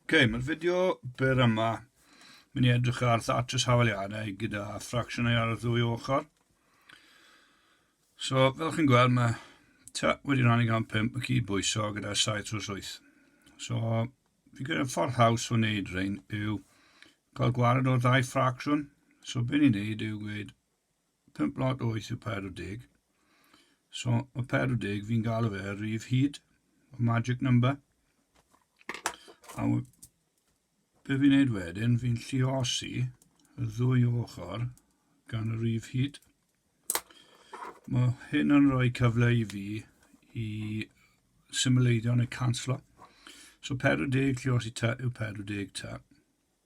Ok, mae'r fideo byr yma mynd i edrych ar thatches hafaliadau gyda ffracsiynau ar y ddwy ochr. So, fel chi'n gweld, mae ta wedi rhannu gan 5 y cyd bwyso gyda 7 trwy 8. So, fi gyda ffordd haws o wneud rhain yw cael gwared o'r ddau ffracsiwn. So, be ni'n neud yw gweud 5 lot oes y pedwar deg. So, y pedwar deg, fi'n galw fe yr rif hyd, y magic number. A be fi'n neud wedyn, fi'n lliosi y ddwy ochr gan y rif hyd. Mae hyn yn rhoi cyfle i fi i symleiddio neu canslo. So 40 lliosi ta yw 40 ta.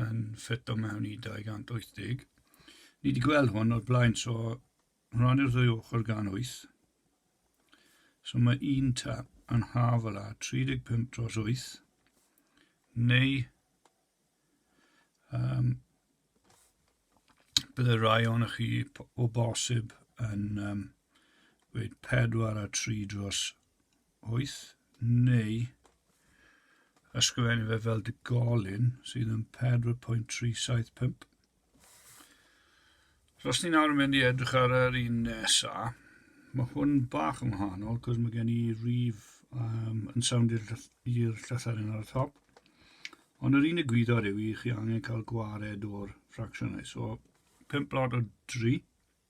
yn ffit o mewn i 280. Ni wedi gweld hwn o'r blaen, so rannu'r ddwy ochr gan 8. So mae un ta yn haf o la 35 dros 8, neu um, bydde rai o'n chi o bosib yn um, gweud 4 a 3 dros wyth, neu ysgrifennu fe fel digolyn sydd yn 4.375. So os ni'n awr yn mynd i edrych ar yr un nesa, mae hwn bach yn wahanol, cos mae gen i rif um, yn sawnd i'r llythyren ar y top. Ond yr unig gwyddoedd yw i chi angen cael gwared o'r ffracsiynau. So, 5 blod o 3.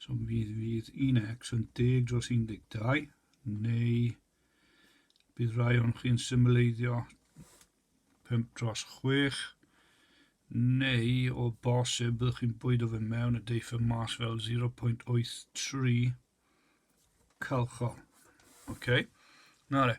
So mi fydd, fydd un X yn deg dros 12, neu bydd rhai o'n chi'n symleiddio 5 dros 6, neu o bosib byddwch chi'n bwyd o fe mewn y deiff y mas fel 0.83 calchol. OK? Na re.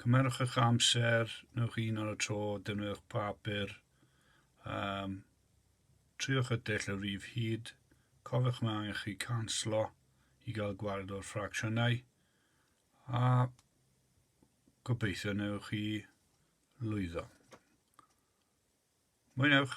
Cymerwch eich amser, newch un ar y tro, defnyddiwch papur, um, triwch y dull o rif hyd, cofiwch mae angen chi canslo i gael gwared o'r ffracsiynau, a gobeithio newch chi lwyddo. Mwynewch!